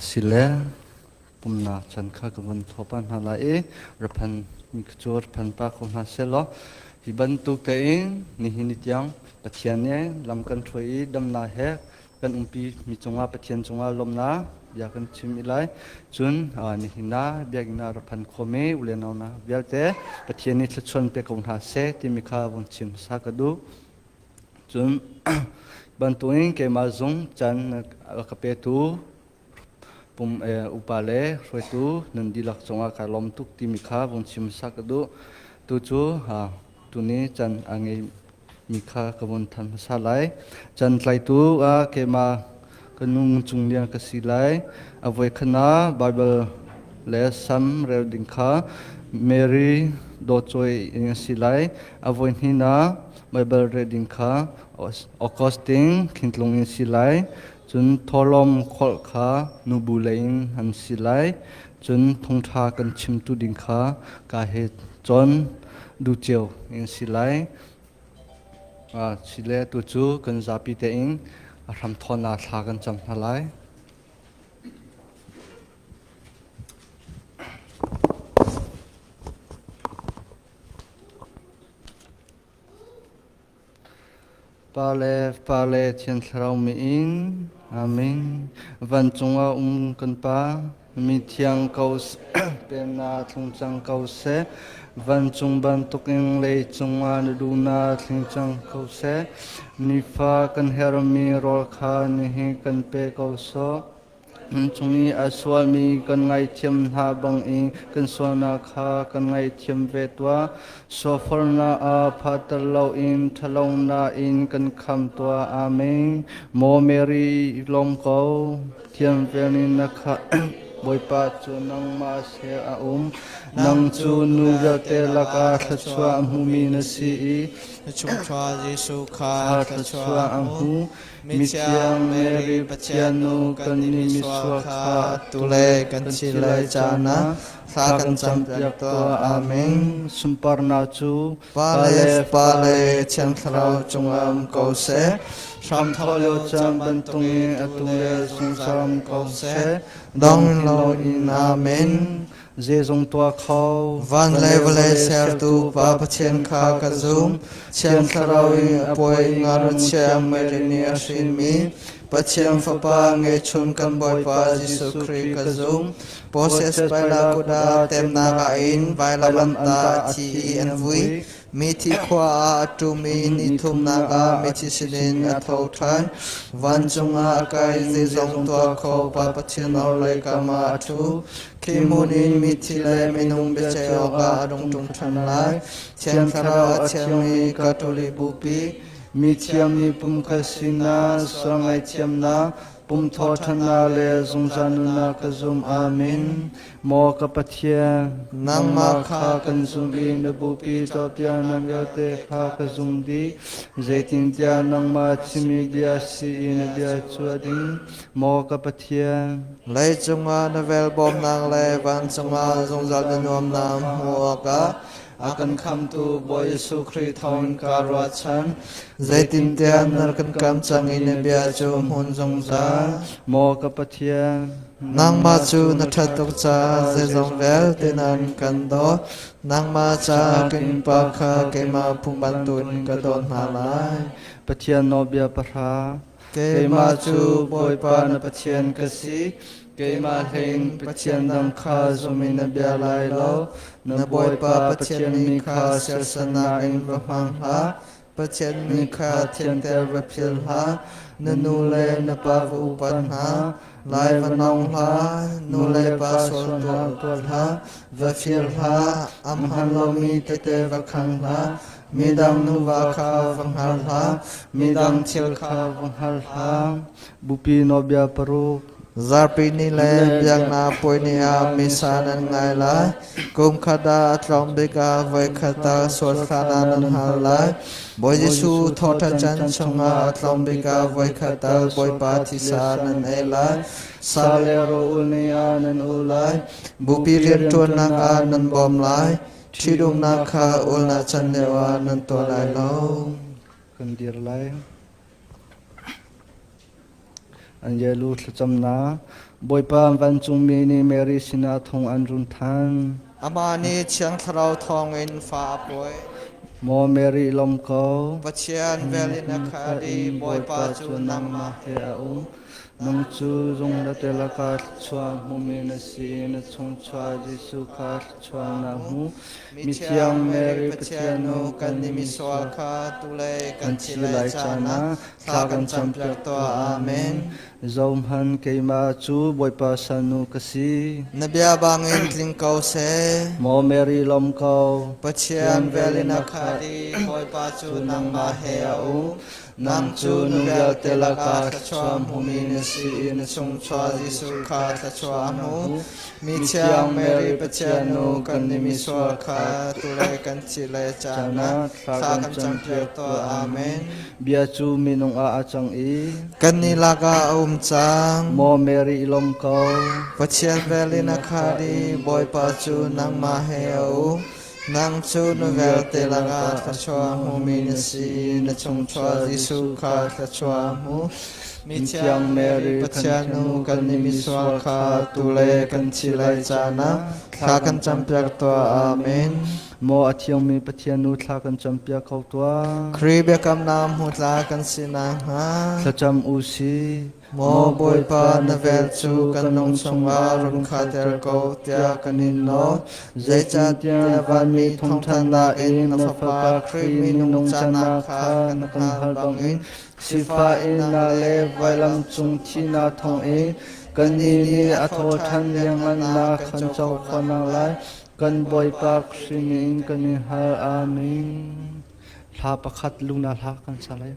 Sile pumnak chan kha ka vun thawpa hna lai i raphan mi cu raphan pa ko hna selaw hi bantuk tein nihin ni tiang Pathian nih lam kan hruai i damnak he kan umpi mi cungah Pathian cungah lawmnak bia kan chim i lai cun nihin ah biakinn ah raphan khomi u le nau na vialte Pathian nih thluachuan pe ko hna seh timi kha vun chim hmasa ka duh Cun bantukin keimah zung caan rak ka petu pum upa le hruaitu nan dihlak cungah kaa lawm tuk timi kha vun chim sak ka duh. Tucu tuni caan a ngeimi kha ka vun thanh hmasa lai. Caan tlaitu ah keimah Ka nu ngungchung lian ka si lai. A voikhat ah Baibal le Salm rel ding kha Mary dawtcawi in a si lai. A voihnih ah Baibal rel ding kha Augustine khintlung in si lai. Cun thawhlawm kholh kha nubu lei in an si lai. Cun thongṭha kan chimtu ding kha kaa he cun duceu in si lai. Chile tu cu kan zapi tein a hramthawh nak thla kan cam hna lai. Pale pale Thian Thlarau mi in Amen. Van cung ah um kan pa Mithiang ko penah thlung cang ko seh. Vancung bantukin lei cungah na duhnak tling cang ko seh. Nifa kan herhmi rawl kha nihin kan pe ko sawh. Cung i a sualmi kan ngaihthiam hna bangin kan sualnak kha kan ngaihthiam ve tuah. Sofornak ah phatter loin ṭhalonnak in kan kham tuah. Amen. Maw Mary, i lawm ko. Thiangpeng in na khah, Bawipa cu nangmah he a um. Nang cu nu vialte lakah thluachuah a hmumi na si i na chungkhar Jesuh kha thluachuah a hmu. Mithiang Mary Pathian nu kan i misual kha atu le kan thi lai caan ah thla kan campiak tuah. Amen. Sunparnak cu Pa le pa le thiang thlarau cungam ko seh hram thawh lio cang bantung i atu le sungsam ko seh dong lo in amen zeizong tua kho van le vale sertu pa pathian kha ka zum thiang thlarau i apoi ngar chiang mai rini ashin mi Pathian Fapa nge chun kan Bawipa Jesuh Kri ka zung Moses Pailakuta temnak ah in vailam anta a thi i an vui. Mithi khua ah a ṭum i ni thumnak ah mithi sinin a tho ṭhan. Vancung ah a kai zi zong tuah kho pa Pathian orhlei kam ah a ṭhu. Khi hmun in mithi le minung biaceih awkah a rung ṭum ṭhan lai. Thiang Thlarau a thiangmi Katolik bupi, mi thiam nih pumkhat sinah sual ngaihthiamnak Kum thawṭhannak le zungzal nunnak ka zum. Amen. Maw ka Pathian, nangmah kha kan zumh i na bupi tuahpiak nan vialte kha ka zum dih. Zeitintiah nangmah chimmi bia si i na bia chuah ding, maw ka Pathian. Lei cungah na velbawmnak le vancung ah zungzal na nuamnak hmuh awkah a kan khamtu Bawi Jesuh Khrih thawngin kaa ruahchan. Zeitintiah na kan kam cang i na bia cu hmun zungzal. Maw ka Pathian, nangmah cu na ṭhat tuk caah zeizong vialte nan kan dawt. Nangmah caah ka innpa kha keimah pum bantukin ka dawt hna lai. Pathian nawlbia pahra. keimah cu Bawipa na Pathian ka si, keimah hleiin Pathian dang kha zum in na bia lai lo. Na Bawipa Pathian mi kha sersannak in va hmang hlah, Pathian mi kha thianter va phil hlah, na nu le na pa va upat hna, Lai va nong hlah, nu le pa sual tuah tuah hlah, va fir hlah, am han lomi tete va khang hlah, midang nuva kha va hngar hlah, midang thil kha va hngar hlah. Bupi nobia paruk. Zarpi ni le biakna puini ah misa nan ngai lai. Kum khata tlawm bika voi khata sual khana nan har lai. Bawi Jesuh thawṭhan can chungah tlawng bik ah voikhat tal Bawipa thisa nan ei lai, sale ro ul ni ah nan ul lai, bupi rianṭuannak ah nan bawm lai, ṭhitumnak kha ulnak can lio ah nan tuah lai lo. Kan dir lai. An yelu thlacamnak Bawipa vancungmi nih Mary sinah thong an run thanh. Amah nih Thiang Thlarau thawngin fa a pawi. Maw Mary lawm ko, Pathian vel in a khat i Bawipa cu nangmah he a um. Nang cu zungzate lakah thluachuah hmumi na si i na chungchuah Jesuh kha thluachuah na hmu. Mithiang Mary Pathian u kan i misual kha tulei kan thi lai caan ah Thla kan campiak tuah. Amen. Zohman keimah cu Bawipa salnu ka si. Na bia bangin tling ko seh. Maw Mary lom ko. Pathian vel in a khali Bawipa cu nangmah he a u. Nang cu nu vialte laka thluachuah hmumi na si i na chung chuah Jesuh kha thluachuah a hmu. Mithiang Mary Pathian nu kan i misual kha tule kan cih le caan ah thla kan campiak tuah amen. Bia cu minung ah a cang i kan ni lakah a um cang. Maw Mary long ko. Pathian vel in a khali Bawipa cu nangmah he a um. Nang cu na vialte lakah thluachuah hmumi na si i na chungchuah Jesuh kha thluachuah hmu. Mithiang Mary Pathian nu kan i misual kha atu le kan thih lai caan ah thla kan campiak tuah. Amen. Maw a thiangmi Pathian nu thla kan campiak ko tuah. Khrih biakamnak hmu tla kan si nakhnga thlacam u sih. Maw Bawipa na vel cu kan lung chungah run khahter ko tiah kan in nawl. Zeicahtiah vanmi thawngthanhnak in na Fapa Khrih minung cannak kha kan hngalh bangin sifah innah le vailam cung thihnak thawng in kannih nih a thawhthan liangannak kan co khawhnak lai kan Bawipa Khrih min kan in hal. Amen. Hla pakhat lu na hla kan sa lai.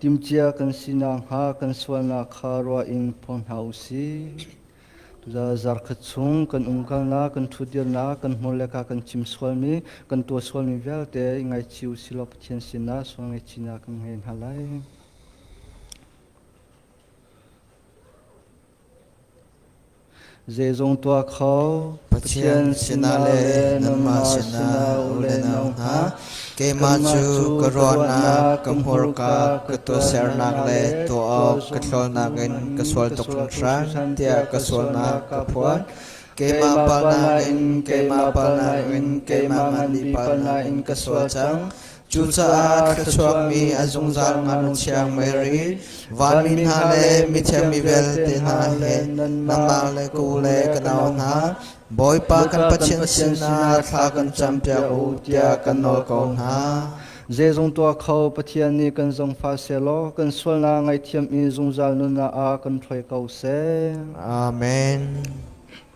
Timcia kan si nakhnga kan sualnak kha ruah in phung hna u sih. Zarkhat chung kan umkalnak, kan ṭhutdirnak, kan hmur le ka kan chim sualmi, kan tuah sualmi vialte i ngaichih u silaw Pathian sinah sual ngaihchihnak kan ngei hna lai. Zeizong tuah kho Pathian sinah le nanmah sinah u le nau hna keimah cu ka ruahnak ka hmurka ka tuahsernak le tuah awk ka thlawnak in ka sual tuk hringhran tiah ka sualnak ka phuan keimah palnak in keimah palnak in keimah mah nih palnak in ka sual cang Cucaah thluachuakmi a zungzal ngakchiang Mary, vanmi hna le mithiang mi vialte hna he nangmah le ku le ka nau hna, Bawipa kan Pathian sinah thla kan campiak u tiah kan nawl ko hna. Zeizong tuah kho Pathian nih kan zong fa selaw kan sualnak ngaithiam i zungzal nunnak ah kan ṭhoi ko seh. Amen.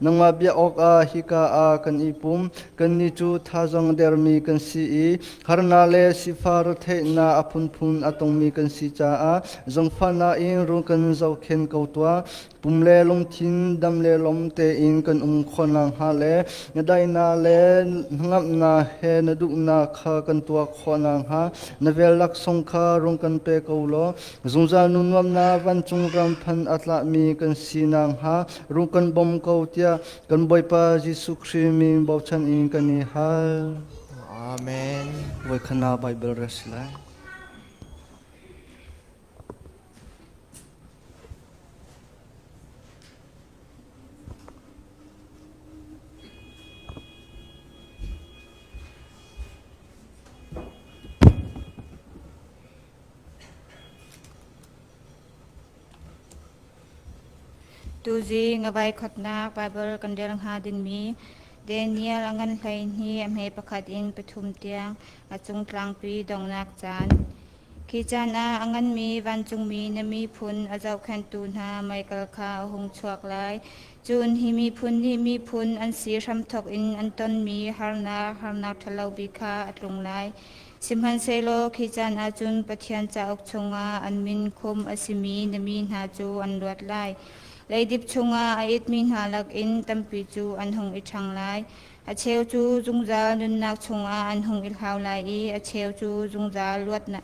Nangmah bia awkah hika ah kan i pum. Kannih cu thazang a dermi kan si i harnak le sifah retheihnak a phunphun a tongmi kan si caah zangfahnak in rung kan zohkhenh ko tuah. Pum le lungthin, dam le lom tein kan um khawh nakhnga le na daihnak le hnangamnak he na duhnak kha kan tuah khawh nakhnga na vel laksawng kha rung kan pe ko law zungzal nun nuamnak vancung ram phan a tlahmi kan si nakhnga Ru kan bawm ko tiah kan Bawipa Jesuh Khrih min bochan in kan i hal. Amen. Voi khana Bible res lai. Tuzii nga vaikhawtnak Baibal kan rel hnga dingmi Daniel a ngan hleihnih a hme pakhat in pathum tiang a cung tlangpi donghnak caan. Khi caan ah a nganmi vancungmi na miphun a zohkhenhtu hna meikal kha a hung chuak lai. Cun hi miphun nih miphun an si hramthawk in an tonmi harnak harnak ṭhalo bik kha a tlung lai. Sihmanhsehlaw khi caan ah cun Pathian cauk chungah an min khum a simi na mi hna cu an luat lai. Leidip chungah a itmi hna lakin tampi cu an hung i ṭhang lai. A cheu cu zungzal nunnak chungah an hung i hlau lai i a cheu cu zungzal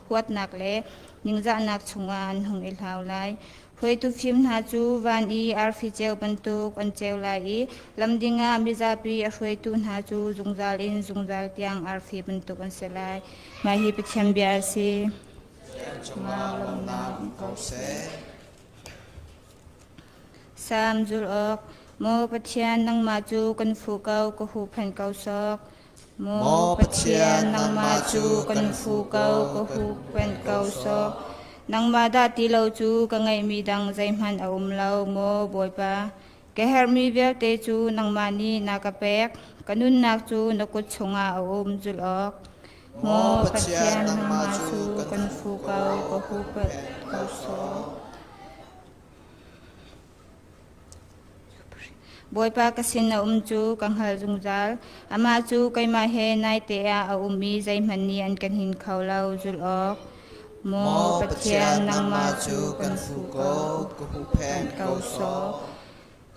huatnak le ningzahnak chungah an hung i hlau lai. Hruaitufim hna cu van i arfi ceu bantuk an ceu lai i lam dingah mizapi a hruaitu hna cu zungzal in zungzal tiang arfi bantuk an si lai. Mah hi Pathian bia a si. Salm zul awk, Maw Pathian nangmah cu kan fuh ko ka huhphenh ko sawk. Maw Pathian, nangmah cu kan fu ko, ka huhphenh ko sawh. Nangmah dah ti lo cu ka ngeihmi dang zeihmanh a um lo, maw Bawipa. Ka herhmi vialte cu nangmah nih na ka pek, ka nunnak cu na kut chungah a um zulh awk. Maw Pathian, nangmah cu kan fu ko, ka huhphenh ko sawh. Bawipa ka sin a um cu ka hngal zungzal, amah cu keimah he naite ah a um i zeihmanh nih an kan hin kho lo. Zulh awk. Maw Pathian, nangmah cu kan hmu ko, ka huhphenh ko sawh.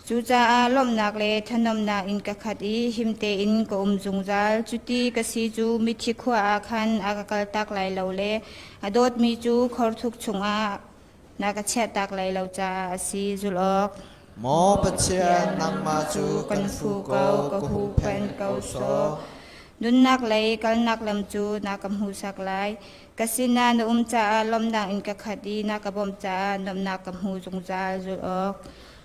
Cucaah lawmhnak le thanomnak in ka khat i him tein ka um zungzal. Cuti ka si cu mithi khua ah khan a ka kaltak lai lo le a dawtmi cu khorthuk chungah Na ka chiahtak lai lo caah a si zulh awk. Maw Pathian, nangmah cu kan fu ko, ka huhphenh ko sawh. Nunnak lei kalnak lam cu na ka hmuhsak lai. Ka sinah na um caah lawmnak in ka khat i na ka bawmh caah lawmnak ka hmu zungzal zulh awk.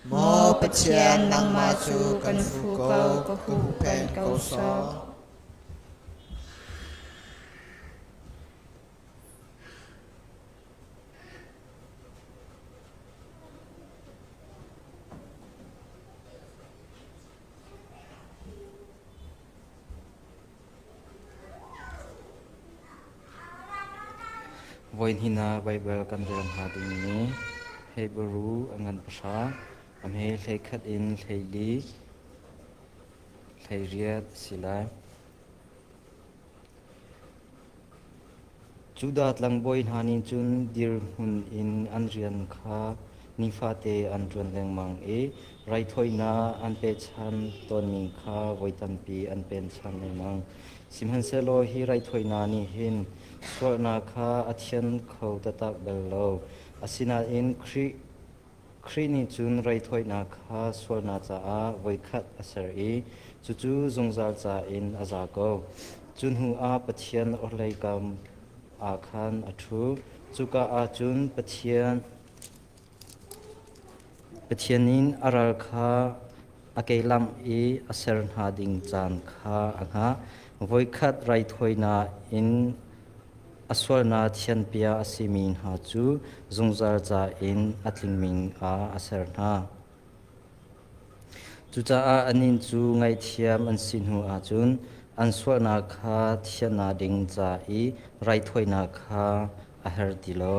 Maw Pathian, nangmah cu kan fu ko, ka huhphenh ko sawh. Voihnih ah Baibal kan rel hna dingmi Hebru a ngan pahra, a hme hlei khat in hlei li, hlei riat a si lai. Judah tlangbawi hna nih cun dirhmun in an rian kha nifate an ṭuan lengmang i raithawinak an pehchanh tawnmi kha voi tampi an pehchanh lengmang. Sihmanhsehlaw hi raithawinak nih hin sualnak kha a thian kho taktak bal lo, asinain Khrih Khrih nih cun raithawinak kha sualnak caah voikhat a ser i cucu zungzal ca in a za ko. Cu hnuah Pathian orhlei kam ah khan a ṭhu. Cuka ah cun Pathian Pathian in a ral kha a kehlangh i a ser hna ding caan kha a hngah. Voikhat raithawinak in A sualnak thianpia a simi hna cu zungzal ca in a tlingmi ah a ser hna. Cucaah anih cu ngaihthiam an si hnu ahcun an sualnak kha thiannak ding ca i raithawinak kha a her ti lo.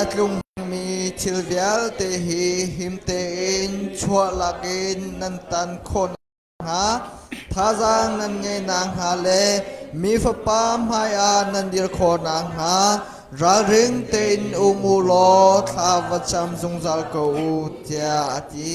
a tlungmi thil vialte hi him tein chuahlak in nan tan khawh nakhnga thazaang nan ngei nakhnga le mi fapa hmaiah nan dir khawh nakhnga ralring tein um u law thla va cam zungzal ko u tiah a ti.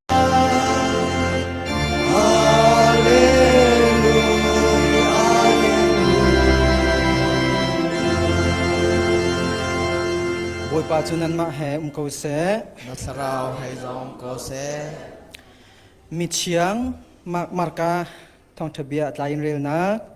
Bawipa cu nanmah he um ko seh. Na thlarau hei zong ko seh. Mi thiang marka thawngtha bia tlai in relnak.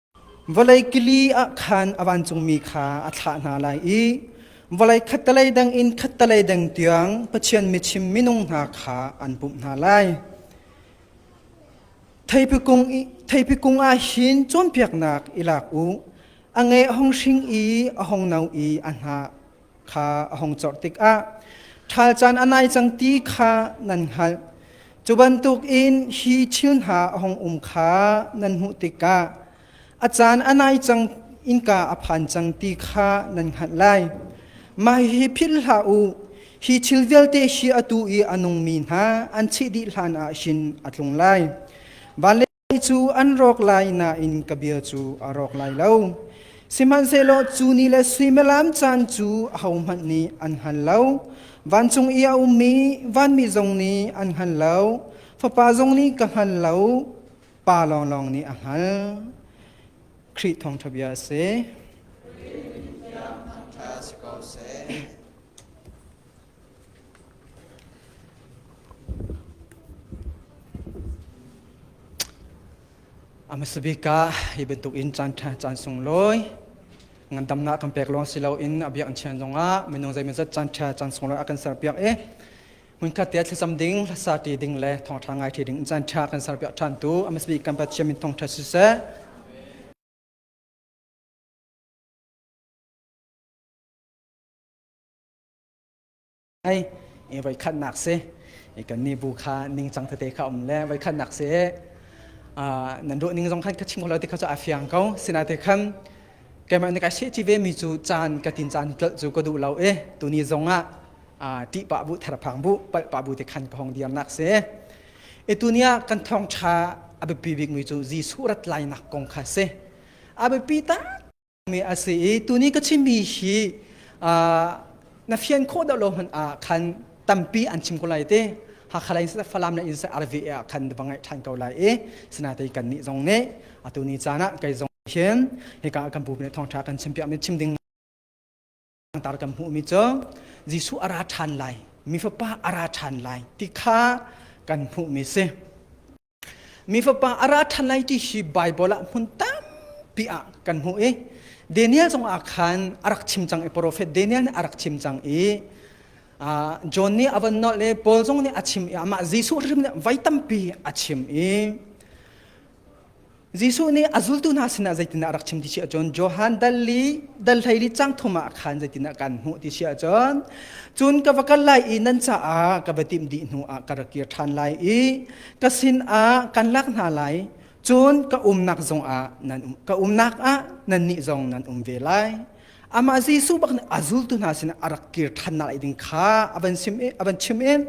Vawlei kili ah khan a vancungmi kha a thlah hna lai i vawlei khattelei dang in khattelei dang tiang Pathian michim minung hna kha an pumh hna lai. Theipi kung, i, theipi kung ah hin cawnpiaknak i lak u. A nge a hung hring i a hung no i a hnah. kha a hung corh tikah ṭhal caan a nai cang ti kha nan hngalh. Cu bantuk in hi thil hna a hung um kha nan hmuh tikah a caan a nai cang innka a phan cang ti kha nan hngalh lai. Mah hi philh hlah u, hi thil vialte hi atu i a nungmi hna an chih dih hlanah hin a tlung lai. Van le Hi cu an rawk lai nain ka bia cu a rawk lai lo. Sihmanhsehlaw cu ni le suimilam caan cu ahohmanh nih an hngal lo. Vancung i a ummi vanmi zong nih an hngal lo. Fapa zong nih ka hngal lo, pa lawnglawng nih a hngal. Khrih thawngṭha bia a si. Amasabika hi bantuk in caan ṭha caan sunglawi ngandamnak kan pek lawng si loin a biak in chian zongah minung zeimazat caan ṭha caan sunglawi a kan serpiak i hmunkhat te thlacam ding hlasa ṭi ding le thawngṭha ngai ṭhi ding in caan ṭha kan serpiak ṭhan tu amasabik kan Pathian min thawngṭha siseh Hei i voikhatnak si i kannih bu kha ningcang tete kha um le voikhatnak si nan ruah ning zong khan ka chim ko lo ti kha cu aa fiang ko sinate khan keimah nih ka sehci vemi cu caan ka tin caan tlolh cu ka duh lo i tuni zong ah ṭih pah bu therphang bu palh pah bu te khan ka hong dirnak si i tuni ah kan thawngṭha a biapi bikmi cu Jesuh rat lainak kong kha si a biapi tak mi a si i tuni ka chimmi hi na fian khawh deuh lo hmanh ah khan tampi an chim ko lai te hakha lei falam le in arve ah khan va ngai ṭhan ko lai i sinate kan nih zong nih atu ni caan ah kei zong hin hika kan bu ne thawngṭha kan chim piak mi chim ding Tar kan hmuhmi cu Jesuh a ra ṭhan lai, mi fapa a ra ṭhan lai ti kha kan hmuhmi si. Mi fapa a ra ṭhan lai ti hi Baibal ah hmun tampi ah kan hmuh i Daniel zongah khan a rak chim cang i profet Daniel nih a rak chim cang i John nih a von nolh i Paul zong nih a chim i amah Jesuh hrim nih vai tampi a chim i Jesuh nih a zultu hna sinah zeitindah a rak chim ti si ahcun Johan dal li dal hleili cang thum ah khan zeitindah kan hmuh ti si ahcun cun ka va kal lai i nan caah ka va timh dih hnu ah ka ra kir ṭhan lai i ka sinah kan lak hna lai cun ka umnak zongah nan um ka umnak ah nannih zong nan um ve lai Amah Jesuh bak nih a zultu hna sinah a rak kir ṭhannak ei ding kha a van sim a van chim in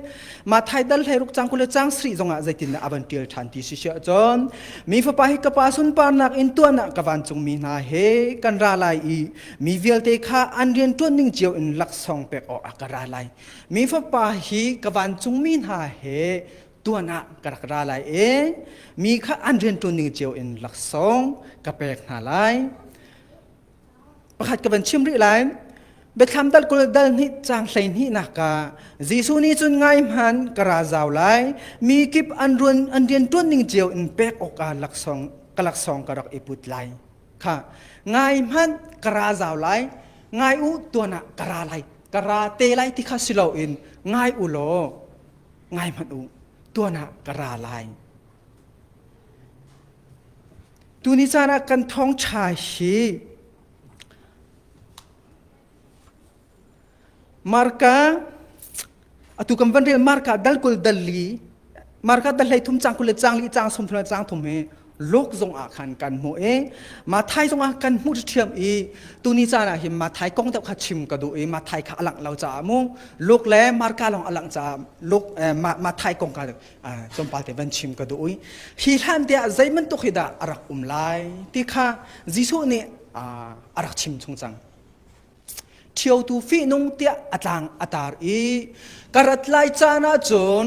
Mathai dal hlei ruk cang kule cang sri zongah zeitindah a van ṭial ṭhan ti si siah cun mi fapa hi ka pa sunparnak in tuahnak ka vancungmi hna he kan ra lai i mi vialte kha an rian ṭuan ning cio in laksawng pek awk ah ka ra lai mi fapa hi ka vancungmi hna he tuan ah ka rak ra lai i mi kha an rian ṭuan ning cio in laksawng ka pek hna lai pakhat ka van chim rih lai biathlam dal kul dal hnih cang hlei hnih nak ka Jesuh ni cun ngai hman ka ra zau lai mi kip an ruan an rian tuan ning cio in pek awk a laksong ka laksong ka rak i put lai kha ngai hman ka ra zau lai ngai u tuan ah ka ra lai ka ra te lai ti kha silo in ngai u law ngai hman u tuan ah ka ra lai Tuni caan ah kan thawngṭha hi marka atu kan van rel marka dal kul dal li marka dal hlei thum cang kul le cang li cang sum thum le cang thum hi lok zong ah khan kan hmu i mathai zong ah kan hmu thiam i tuni caan ah hin mathai kong deuh kha chim ka duh i mathai kha alang lo caah mu lok le marka long alang caah lok mathai kong ka duh Cumpal te van chim ka duh i hi hlan te ah zeiman tuk hi dah a rak um lai ti kha Jesuh nih a rak chim chung cang thio tu fi nung tiah a tlang a tar i karat lai caan ah cun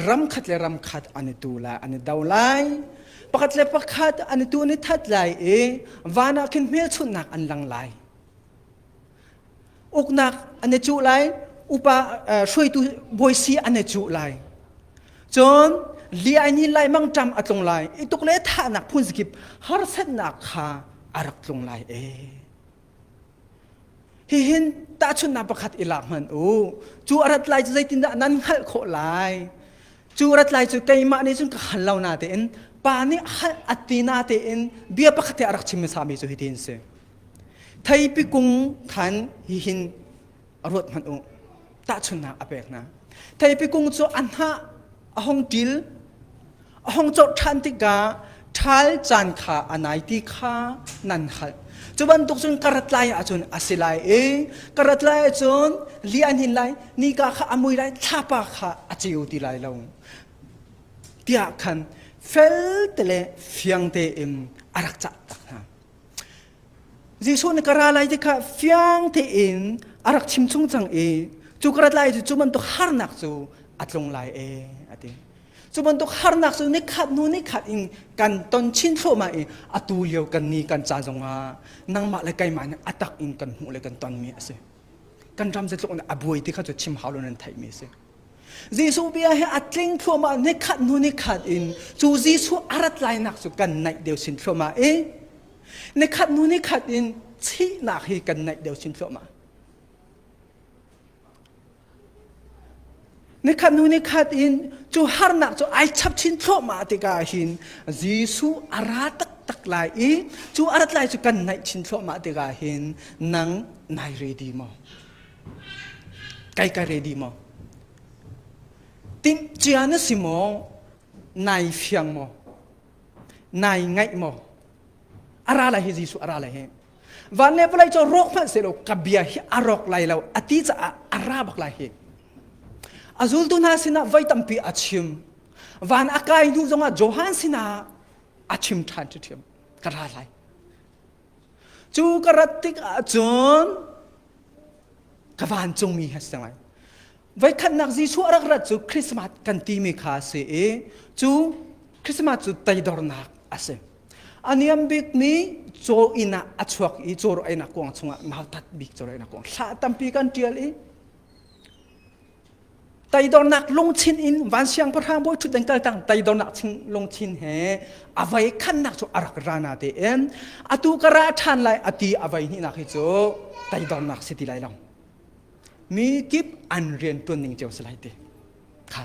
ram khat le ram khat an i tu lai an i do lai pakhat le pakhat an i tu ni that lai i van ah khin hmelchunhnak an lang lai uknak an i cuh lai upa hruaitu bawi an i cuh lai cun liai ni lai mang tam a tlung lai i tuk le thahnak phun zakip harsannak kha a rak tlung lai e hihin tahchunnak pakhat i lak hman u cu arat lai cu zeitindah nan hngalh khawh lai cu arat lai cu keimah nih cun ka hal lo na tein pa nih hal atina tein bia pakhat a rak chim sami cu hitin si Theipi kung khan hihin a ruat hmanh u tahchunnak a pek hna. Theipi kung cu a hnah a hong ṭil a hong corh ṭhan tikah ṭhal caan kha a nai ti kha nan hngalh. Cu bantuk cun ka rat lai ahcun a si lai i ka rat lai ahcun li an hin lai, nika kha a mui lai, thlapa kha a ceu ti lai lo. Tiah khan felte le fiangte in a rak cah tak hna. Jesuh nih ka ra lai ti kha fiang tein a rak chim chung cang i cu ka rat lai cu cu bantuk harnak cu a tlung lai e a ti. Cu bantuk harnak cu nikhat hnu nikhat in kan ton chin thluahmah i atu lio kan ni kan ca zongah nangmah le keimah nih a tak in kan hmuh le kan tonmi a si. Kan ram zetluk in a buai ti kha cu chim hau lo nan theihmi a si. Jesuh bia he a tling thluahmah nikhat hnu nikhat in cu Jesuh a rat lainak cu kan naih deuh sin thluahmah i nikhat hnu nikhat in thihnak hi kan naih deuh sin thluahmah. Nikhat hnu nikhat in cu harnak cu ai chap chin thluahmah tikah hin Jesuh a ra taktak lai i cu a rat lai cu kan naih chin thluahmah tikah hin nang nai re di maw? Kai ka ready maw? Timhcia na si maw? Nai fiang maw? Nai ngaih maw? A ra lai hi Jesuh a ra lai hi. Van le palai cu rawk hmanh sehlaw ka bia hi a rawk lai lo a ti caah a ra bak lai hi. A zultu hna sinah voi tampi a chim. Van a kai hnu zongah Johan sinah a chim ṭhan ṭhiṭhiam. Ka ra lai. Cu ka rat tik ahcun ka vancungmi ha si ngai. Voi khatnak Jesuh a rak rat cu Christmas kan timi kha a si i cu Christmas cu teidornak a si. A niam bik mi caw inn ah a chuak i caw einak kuang chungah mautat bik caw einak kuang thla tampi kan ṭial i Teidornak lungchin in van siangpahrang bawi ṭhut nan kal cang teidornak lungchin he avei khannak cu a rak ra na tein atu ka ra ṭhan lai a ti avei hnihnak hi cu teidornak si ti lai lo mi kip an rian ṭuan ning cio si lai ti kha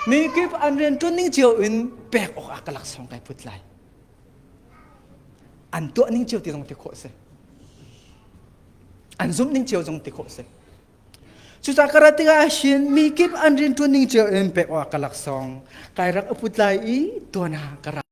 mi kip an rian ṭuan ning cio in pek awk ah ka laksawng kai put lai an tuah ning cio ti zong ti khawh si an zumh ning cio zong ti khawh si Cucah ka rat tikah ahhin mi kip an rianṭuan ning cio in pek awk ka laksawng kai rak uput lai i tuan ah ka ra.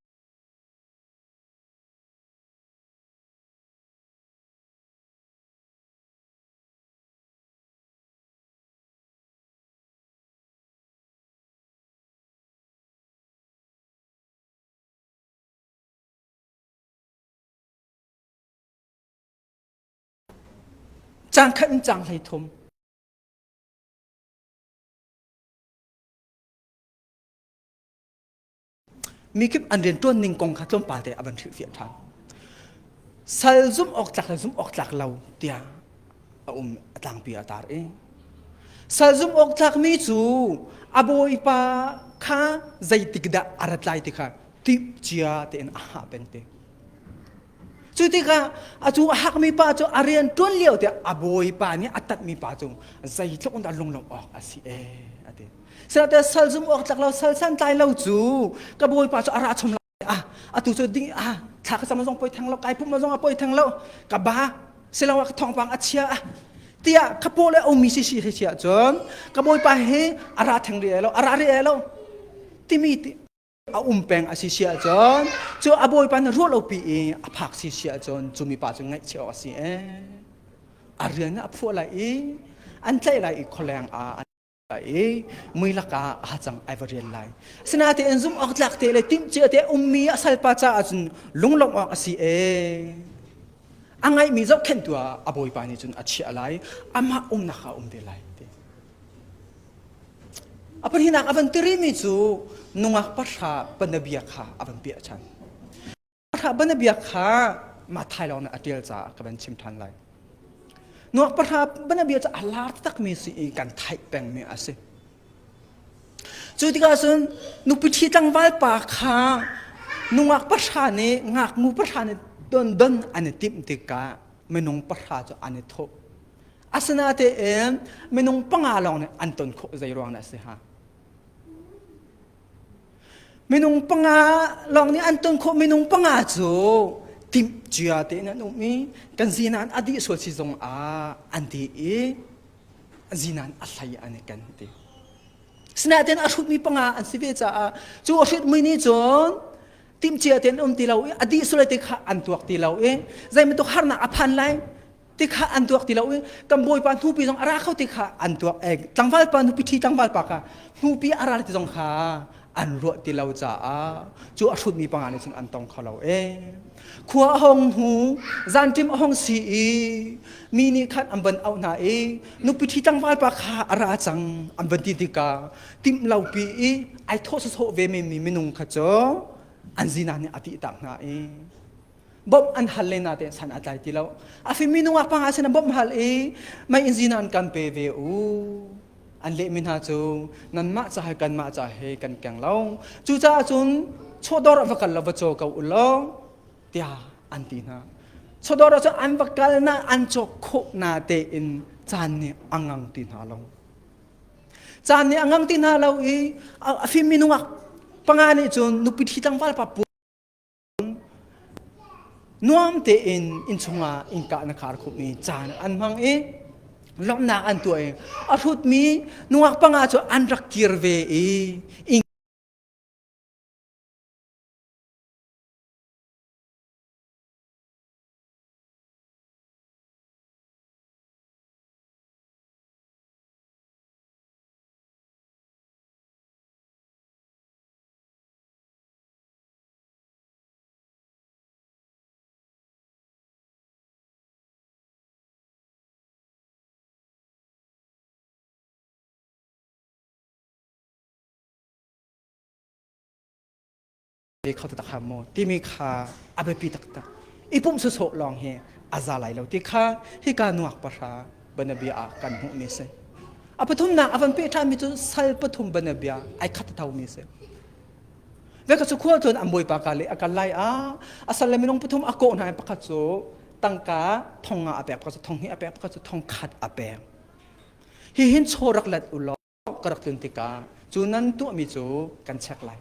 Cang khat in cang hlei thum. Mikip an riantuan ning kong kha tlawmpal te a van hrilh fiah ṭhan. Sal zumh awk tlak le zumh awk tlak lo tiah a um a tlangpi a tar i sal zumh awk tlakmi cu a bawipa kha zeitik dah a rat lai ti kha timh cia tein a hah peng te. Cu tikah a cu a hakmi pa cu a rian ṭuan lio tiah a bawipa nih a tatmi pa cu zeitluk in dah lunglawmh awk a si e a ti. Sihmanhsehlaw sal zum awk tlak lo sal santlai lo cu ka bawipa cu a ra chom lai ah a tu cu ding ah thla ka cam zong poi theng lo kai pum zong a poi theng lo ka ba silangah ka thawngpang a chia a tiah ka paw le omi si si khi chia cun ka bawipa hi a ra theng rih ai lo a ra rih ai lo timi a um peng a si si ahcun cu a bawipa na ruah lopi i a phak si si ahcun cu mipa cu ngaih cio a si ee a rian a phuah lai i an tlaih lai i khualeng ah an lai i mui lakah a cang ai va rial lai sinatein zum awk tlak te le timhcia te ummi a salpa caah cun lunglawmh awk a si ee a ngaihmi zohkhenhtu ah a bawipa nih cun a chiah lai amah umnak ah um te lai A pahninak a van tirimi cu nungak pahra banabia kha a van piah ṭhan. Pahra banabia kha Mathai lawng nih a ṭial caah ka van chim ṭhan lai. Nungak pahra banabia cu a lar taktakmi si i kan theih pengmi a si. Cu tikah cun nupiṭhi tlangval pa kha nungak pahra nih ngaknu pahra nih don don an i timh tikah minung pahra cu an i thawh. Asinatein minung panga lawng nih an ton khawh zei ruang dah a si hnga? Minung panga lawng nih an ton khawh minung panga cu timh cia tein an um i kan zinan a dih sual si zong ah an dih i zinan a hlei an i ken ti. Sinain a hrutmi panga an si ve caah cu a hrutmi nih cun timh cia tein um ti lo i a dih sulai te kha an tuak ti lo i zeibantuk harnak a phan lai tikha an tuak ti lo i kan bawipa hnupi zong a ra kho ti kha an tuak e tlangval pa nupi ṭhi tlangval pa kha hnupi a ra ti zong kha an ruah ti lo caah cu a hrutmi panga nih cun an tong kho lo e khua a hong hu zanṭim a hong si i mi nih khan an van auh hna i nupi ṭhi tlangval pa kha a ra cang an van ti tikah timh lopi i ai thawh sawsawh ve menmi minung kha cu an zinan nih a tih tak hna i bawmh an hal le nate san a tlai ti lo a fim mi nungak panga sin bawmh hal i mai in zina an kan pe ve u an leh mi hna cu nan mah ca he kan mah ca he kan keng lo cu caah cun chodor va kal lo va caw ko u law tiah an ti hna chodor ah cun an va kal na an cawk khawh na te in caan nih angang ti hna lo caan nih angang ti hna lo i a fim mi nungak panga nih cun nupi thi tlangval pa Nuam tein innchungah innkah na khar khup i caan an hmang i lawmhnak an tuah i a hrutmi nungak panga cu an rak kir ve i inn te kho ta kha mo timi kha a biapi taktak i pum su sawh lawng hi a za lai lo ti kha hi ka nuak pahra banabia ah kan hmuh mi si a pathumnak a van peh ṭhan mi cu sal pathum banabia ai khat thau mi si Veka cu khual tuan an bawipa ka le a kal lai a a sal le minung pathum a kawh hna pakhat cu tangka thong nga a pek pakhat cu thong hi a pek pakhat cu thong khat a pek hi hin chaw rak let u law ka rak tlun tikah cu nan tuahmi cu kan check lai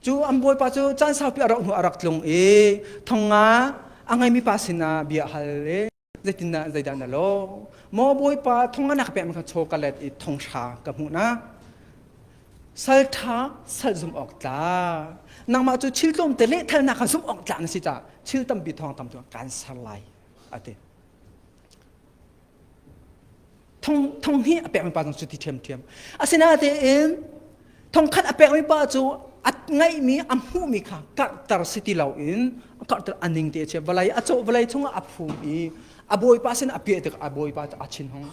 cu an bawipa cu caan saupi a rauh hnu a rak tlung i thong nga a ngeimi pa sinah bia hal i zeitindah zeidah na lo maw bawipa thong anak pek kha chaw ka let i thong hra ka hmuh na saltha sal zum awk tla nangmah cu thil tlawm te lehthalnak kha zumh awk tla na si ca thil tampi thong tam cu kan ser lai ati thong thong hi a pekmi pa zong cu ti ṭhiamṭhiam asinatein thongkhat a pekmi pa cu a ngaihmi a hmuhmi kha karhter si ti loin a karhter a ning te a chia vawlei a cawh vawlei chungah a phum i a bawipa sin a peh tikah a bawipa cu a chin hong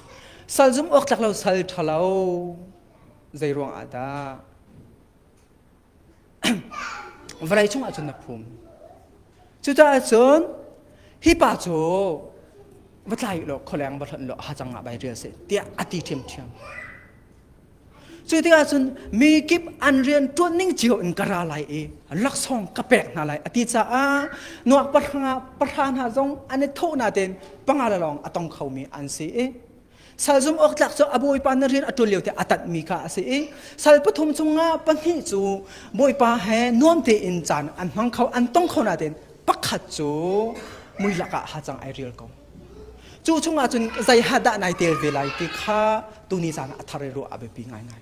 sal zum awk tlak lo sal ṭhalo zei ruang ah dah vawlei cungah cun a phum cucaah cun hi pa cu va tlai law kholeng va hlonh law ha cangah bai rial seh tiah a ti ṭhiamṭhiam cu tikah cun mi kip an rian ṭuan ning cio in ka ra lai i laksawng ka pek hna lai a ti caah nuak pahra pahra hna zong an i thawh natein panga le lawng a tong khomi an si i Salzung awktlak cu a bawipa na rian a ṭul lio te a tanhmi kha a si i sal pathum cungah pahnih cu bawipa he nuam tein caan an hmang kho an tong kho natein pakhat cu mui lakah hacang ai rial ko. Cu chungah cun zei ha dah nai tel ve lai ti kha tuni caan ah a thar i ruah a biapi ngaingai.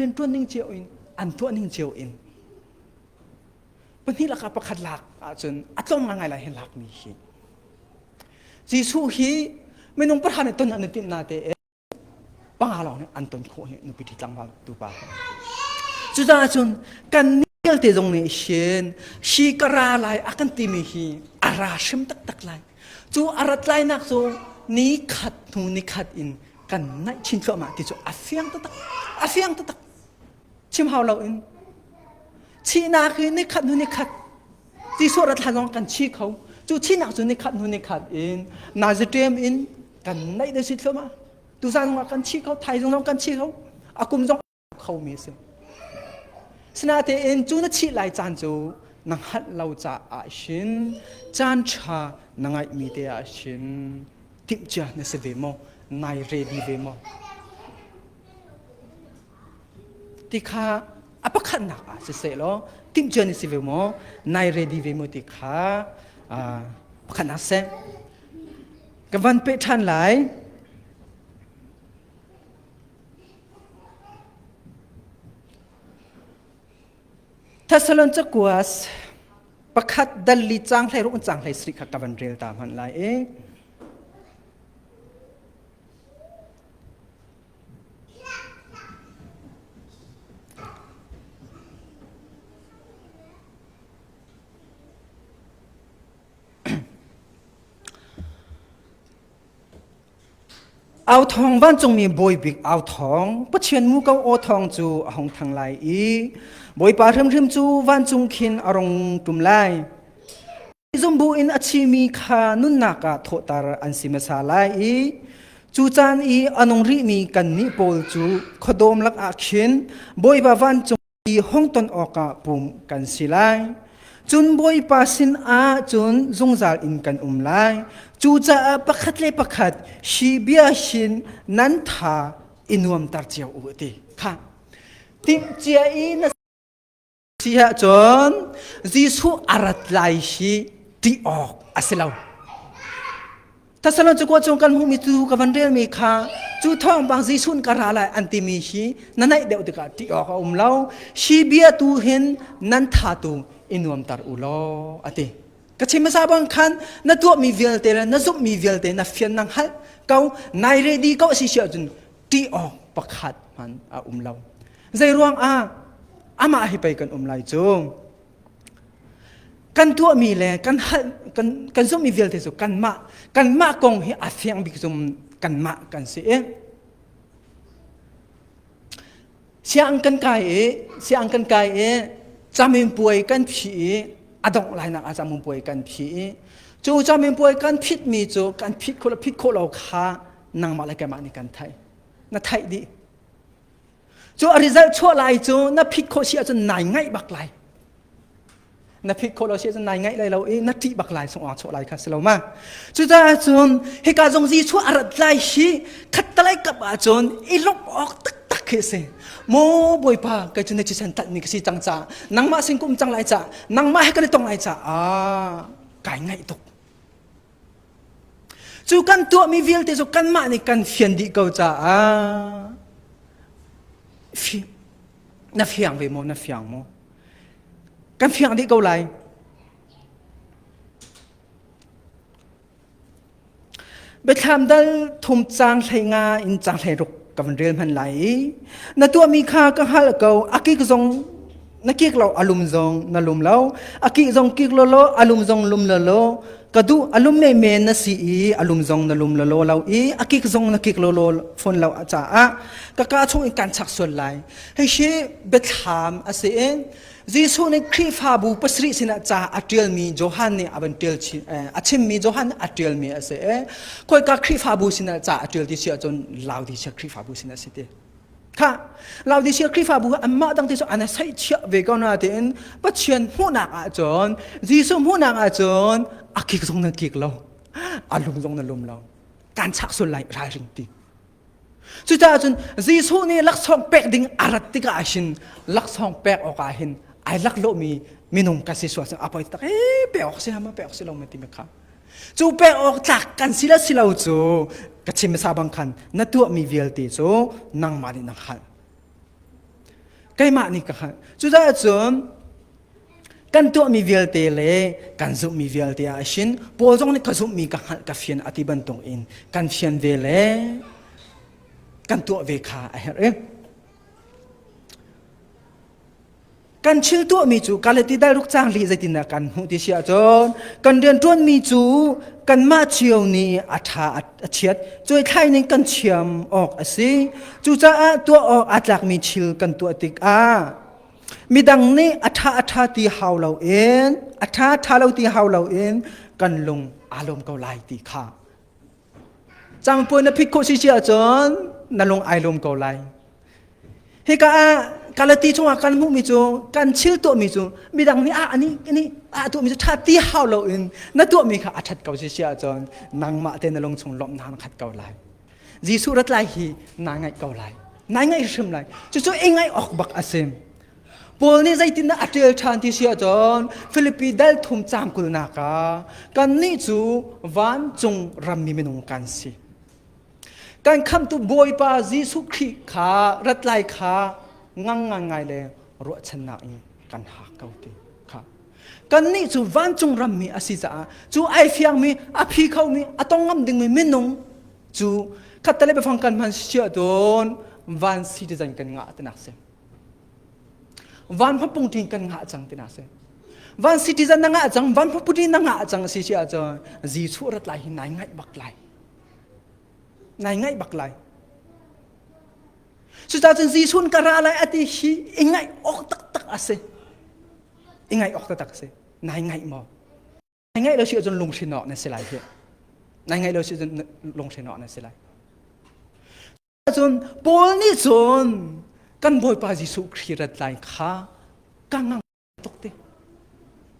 rianṭuanning cio in an tuahning cio in pahnih lakah pakhat lak ahcun a tlawm ngaingai lai hi lakmi hi Jesuh hi minung pahra nih ton an tinh na te panga lawng nih an ton khawh hi nupi thi tlangval tu pa cucaah cun kan nial te zong nih hin hi kara lai a kan timi hi a ra hrim taktak lai Cu a rat lainak cu ni khat hnu ni khat in kan naih chin thluahmah ti cu a fiang taktak a fiang taktak chim hau lo in thihnak hi ni khat hnu ni khat Jesuh rat hlan lawng kan chi kho cu thihnak cu ni khat hnu ni khat in Nazarem in kan naih le si thluahmah tuzan ah kan chi kho thaizong zong kan chi kho a kum zong khomi a si. Sinatein cu na chih lai caan cu na hngalh lo caah shin caan ṭha na ngaihmi te ah shin timhcia na si ve maw? Nai ready ve maw? Ti kha a pakhatnak ah si seh law timhcia na si ve maw? Nai ready ve maw ti kha pakhatnak seh. Ka van peh ṭhan lai. Thessalonians pakhat dalli cang hlei rung cang hlei sri kha ka van rel ta hman lai e Au thawng vancungmi bawibik au thawng Pathian mu ko aw thawng cu a hong thang lai i Bawipa hrimhrim cu vancung khin a rung ṭum lai. Zumbu in a chimi kha nunnak ah thawhter an si hmasa lai i cu caan i a nung rihmi kannih pawl cu khuadawm lakah khin Bawipa vancung i hongton awkah pum kan si lai cun bawipa sinah cun zungzal in kan um lai cucaah pakhat le pakhat shi bia shin nan tha i nuamter cio u ti kha tingcia i na si ah cun Jesuh a rat lai hi ti awk a si lo Thesalonika cung kan hmuhmi tu ka van relmi kha cu thawng bang Jesuh ka ra lai an timi hi na naih deuh tikah ṭih awk a um lo. Hi bia tu hin nan tha tu i nuamter u law a ti. Ka chim hmasa bang khan na tuahmi vialte le na zumhmi vialte na fian na hngalh ko nai ready ko si si ahcun ṭih awk pakhat hman a um lo. Zei ruang ah amah hi pei kan um lai cu kan tuahmi le kan hal kan zumhmi vialte cu kanmah kanmah kong hi a fiang bik zum kanmah kan si i siang kan kai i siang kan kai i camin puai kan phi i a dongh lainak ah camin puai kan phi i cu camin puai kan phitmi cu kan phit khawh phit khawh lo kha nangmah le keimah nih kan theih na theih dih Cu a result chuah lai cu na phit khawh si ahcun nai ngaih bak lai. Na phit khawh lo si ahcun nai ngaih lai lo i na ṭih bak lai sungh chuah lai kha si lo ma. Cucaah cun hika zong zi chuah a rat lai hi khattalai kap ahcun i lawmh awk taktak khi a si. Maw Bawipa, kei cu na thisen tlanhmi ka si cang caah nangmah sin ka um cang lai caah nangmah he kan i tong lai caah kai ngaih tuk. Cu kan tuahmi vialte cu kanmah nih kan fian dih ko caah na fiang ve maw na fiang maw kan fiang dih ko lai biathlam dal thum cang hlei nga in cang hlei ruk ka van rel hman lai i na tuahmi kha ka hal ko a kik zong na kik lo alum zong na lum lo aki zong kik lo lo alum zong lum lo lo ka du alum me men na si i alum zong na lum lo lo lo i akik zong na kik lo lo phone lo acha a ka ka chung in kan chak sual lai hei she bethlam ase en Jesuh nih Khrihfabu pasri sinah ca a ṭialmi Johan nih a van ṭial chin a chimmi Johan a ṭialmi a si e koi ka Khrihfabu sinah ca a ṭial ti si ahcun lau ti si Khrihfabu sinah si ti tha laodicea khrihfabu anmah dang ti cu an sai chiah ve ko na tein pathian hmuhnak ahcun jesuh hmuhnak ahcun a kik zong nan kik lo a lung zong nan lum lo kan chak sul lai ralring ti cucaah cun jesuh nih laksawng pek ding a rat tikah hin laksawng pek awk ah hin ai lak lomi minung ka si suasang a poi tak e pe awk si hama pe awk si lo ma ti me kha cu pek awk tlak kan si le si lo cu ka chim hmasa bang khan na tuahmi vialte cu nangmah nih na hngalh keimah nih ka hngalh cucaah cun kan tuahmi vialte le kan zumhmi vialte ah shin Paul zong nih ka zumhmi ka hngalh ka fian a ti bantuk in kan fian ve le kan tuah ve kha a herh i kan thil tuahmi cu kalati dal ruk cang li zeitindah kan hmuh ti si ahcun kan rian ṭuanmi cu kanmah cio nih a ṭha a chiat cuai thlai ning kan thiam awk a si cucaah tuah awk aa tlakmi thil kan tuah tikah midang nih a ṭha a ṭha ti hau loin a ṭha ṭha lo ti hau loin kan lung aa lawm ko lai ti kha Cangpui na phit khawh si si ahcun na lung ai lum ko lai. Hika ah Galati chungah kan hmuhmi cu kan chil tuahmi cu midang nih ah ani ani ah tuahmi cu ṭha ti hau loin na tuahmi kha a ṭhat ko si si ahcun nangmah te na lung chung lawmh na khat ko lai. Jesuh rat lai hi naa ngaih ko lai. Nai ngaih hrim lai. Cucu i ngaih awk bak a si. Paul nih zeitindah a ṭial ṭhan ti si ahcun Filipi dal thum caang kulnak ah kannih cu vancung rammi minung kan si. Kan khamtu Bawipa Jesuh Khrih kha rat lai kha ngang ngai le ruahchannak in kan hak ko ti kha. Kannih cu vancung rammi a si caah cu ai fiangmi, a phi khomi, a tong ngam dingmi minung cu khatte le biafang kan hman si ahcun van si ti zan kan ngah tinak si. van hmapung ṭhin kan ngah cang tina si van citizen na ngah cang van hmaputi na ngah cang si si ahcun zi chu rat lai hi nai ngaih bak lai nai ngaih bak lai cucacun zisuun ka ra lai ati hi i ngaih awk taktak a si i ngaih awk taktak a si nai ngaih maw na ngeih lo si ahcun lunghrin awk na si lai hi na ngeih lo si ahcun lunghrin awk na si lai cun Paul nih cun kan Bawipa Jesuh Khrih rat lai kha ka ngang tuk ti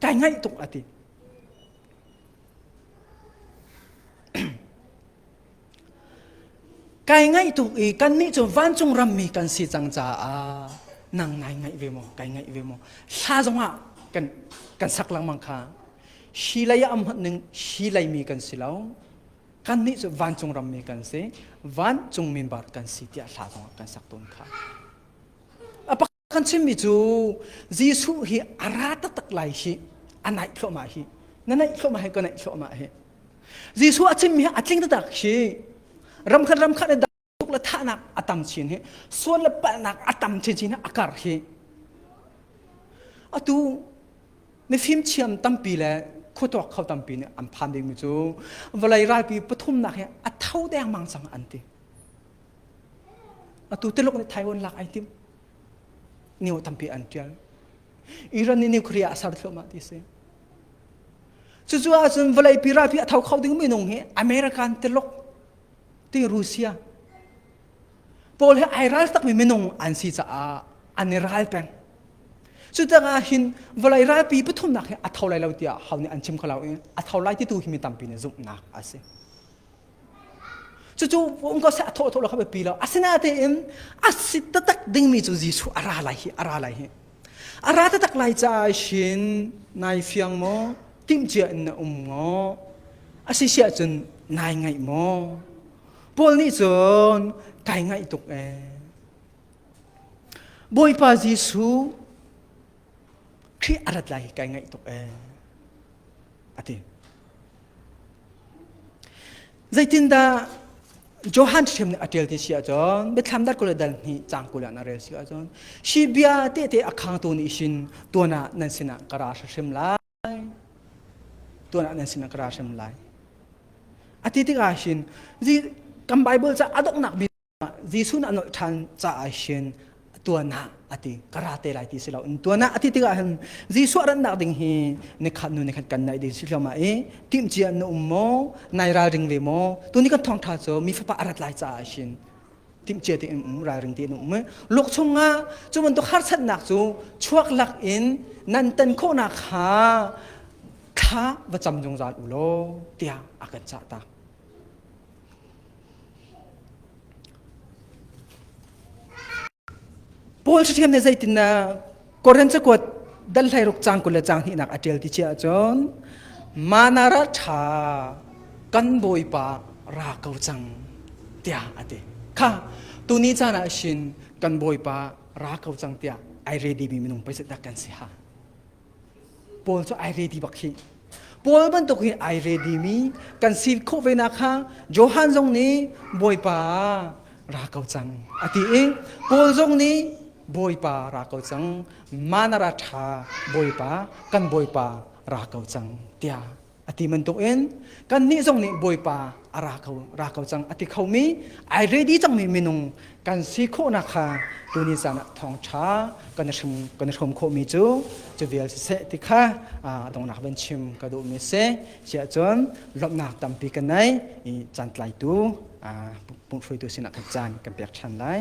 ka ngaih tuk a ti Kai ngaih tuk i kannih cu vancung rammi kan si cang caah nang ngai ngaih ve maw kai ngaih ve maw hla zongah kan kan sak lengmang kha hi lei ah am hmanh ning hi lei mi kan si lo kannih cu vancung rammi kan si vancung mimbar kan si tiah hla zongah kan sak tawn kha a Kan chimmi cu Jesuh hi a ra taktak lai hi a naih thluahmah hi na naih thluahmah hi ka naih thluahmah hi Jesuh a chimmi hi a tling taktak hi ramkhat ramkhat in le thahnak a tam chin hi suan le palhnak a tam chinchin a kar hi atu mifim thiam tampi le khuatuak kho tampi nih an phan dingmi cu vawlei ralpi pathumnak hi a tho dengmang cang an ti Atu te lok nih Taiwan lak ai tim. Niu tampi an tial. Iran nih nuclear a ser thluahmah ti si. Cucu ahcun vawlei pi rapi a tho kho ding minung hi American tilok ti Rusia pawl he ai ral takmi minung an si caah an i ral peng. Cucangah hin vawlei ralpi pathumnak hi a tho lai lo tiah hau nih an chim kho lo i a tho lai ti tu hi mi tampi nih zumhnak a si. Cucu unko se a thawthaw lo kha biapi lo. Asinatein a si tatak dingmi cu Jesuh a ra lai hi a ra lai hi. A ra tatak lai caah shin nai fiang maw timcia in na um ngaw asi siah cun nai ngaih maw Paul nih cun kai ngaih tuk ee Bawipa Jesuh Khrih a rat lai kai ngaih tuk ee a ti Zeitindah Johan hrem nih a ṭial ti si ahcun biathlam dat kul le dal hnih cang kul ah na rel si ahcun shi bia tehte a khangtu nih shin tuan ah nan sinah ka ra hrim lai tuan ah nan sinah ka ra hrim lai a ti tikah shin kan Bible ca a donghnak bia Jesuh nih a nolh ṭhan caah hin tuanah a ti ka ra te lai ti si lo in tuanah a ti tikah hin Jesuh a rannak ding hi nikhat nu nikhat kan naih ding si hloma i timcia na um maw nai ralring ve maw tuni kan thawngṭha cu mi fapa a rat lai caah hin timcia te in um ralring te in um luk chungah cu bantuk harsatnak cu chuak lak in nan tan khawhnak kha thla va cam zungzal u law tiah a kan cah ta Paul ṭhathiam nih zeitindah Korin cakuat dan hleiruk cang kul le cang hnihnak a ṭial ti chia ahcun manara ṭha kan bawipa ra ko cang tiah a ti kha tuni caan ah shin kan bawipa ra ko cang tiah ai ready mi minung pei dak kan si ha Paul cu ai ready bak khi Paul bantuk hi ai ready mi kan sin khawh ve na kha Johan zong nih Bawipa ra ko cang a ti i Paul zong nih Bawipa ra ko cang manara ṭha Bawipa kan Bawipa ra ko cang tiah a ti bantuk in kannih zong nih Bawipa a ra ko ra ko cang a ti khomi ai ready cangmi minung kan si khawhnak kha tuni caan ah thawngṭha kan i hrum kan i hrum khawhmi cu cu vial siseh ti kha a donghnak van chim ka duhmi si chiah cun lawmhnak tampi ka nei i caan tlaitu pumhruitu sinah khat caan kan pek ṭhan lai